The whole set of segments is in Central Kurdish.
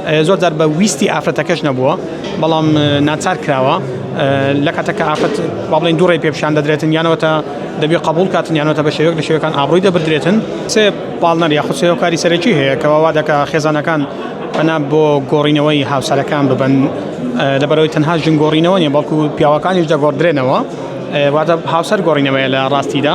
زۆر جار بە ویستی ئافرەتەکەش نەبووە بەڵام ناچار کراوە لە کاتەکە ئافرەت با بڵێن دوو ڕێ پێ پیشان دەدرێتن یانەوەتە دەبێت قبول کاتن یانەوەتە بە شێوەک لە شێوەکان ئابڕووی دەبدرێتن سێ پاڵنەر یاخود سێوکاری سەرەکی هەیە کەەوە وا دەکە خێزانەکان پەنا بۆ گۆڕینەوەی هاوسەرەکان ببن لەبەرەوەی تەنها ژن گۆڕینەوە نیە بەڵکو پیاوەکانیش دەگۆڕدرێنەوە واتە هاوسەر گۆڕینەوەیە لە ڕاستیدا.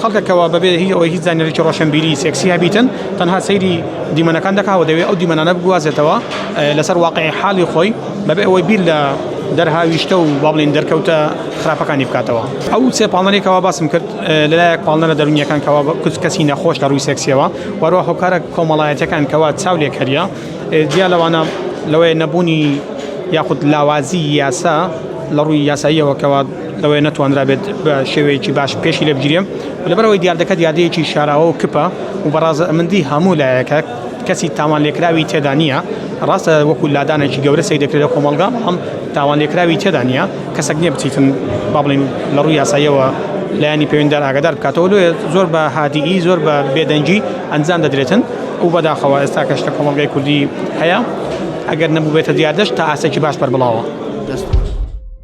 خەڵکە کەوا بەبێ هیچ ئەوەی هیچ زانیاریەکی ڕۆشەنبیری سێکسیە بیتن تەنها سەیری دیمەنەکان دەکا و دەوێ ئەو دیمەنانە بگوازێتەوە لەسەر واقعی حاڵی خۆی بەبێ ئەوەی بیر لە دەرهاویشتە و با بڵێین دەرکەوتە خراپەکانی بکاتەوە ئەو سێ پاڵنەری کەوا باسم کرد لەلایەک پاڵنەرە دەرونیەکان کەوا کچ کەسی نەخۆش لە ڕووی سێکسیەوە وەرەوە هۆکارە کۆمەڵایەتەکان کەوا چاو لێکەریە جیا لەوانە لەوەیە نەبوونی یاخود لاوازی یاسا لە ڕووی یاساییەوە کەوا لەوەیە نەتوانرابێت بە شێوەیەکی باش پێشی لێ بگیرێم لەبەرەوەی دیاردەکە دیاردەیەکی شاراوە و کپە و بەڕازەمەندی هەموو لایەکە کەسی تاوان لێکراوی تێدا نییە ڕاستە وەکو لادانێکی گەورە سەی دەکرێت لە کۆمەڵگا بەڵام تاوان لێکراوی تێدا نییە کەسەک نییە بچیتن با بڵین لە ڕووی یاساییەوە لایانی پەیوەندار ئاگادار بکاتەوە لێ زۆر بە هادیئی زۆر بە بێدەنگی ئەنجام دەدرێتن و بەداخەوە ئێستا کەش لە کۆمەڵگای کوردی هەیە ئەگەر نەبووبێتە دیاردەش تا ئاسێکی باش بەربڵاوە دەست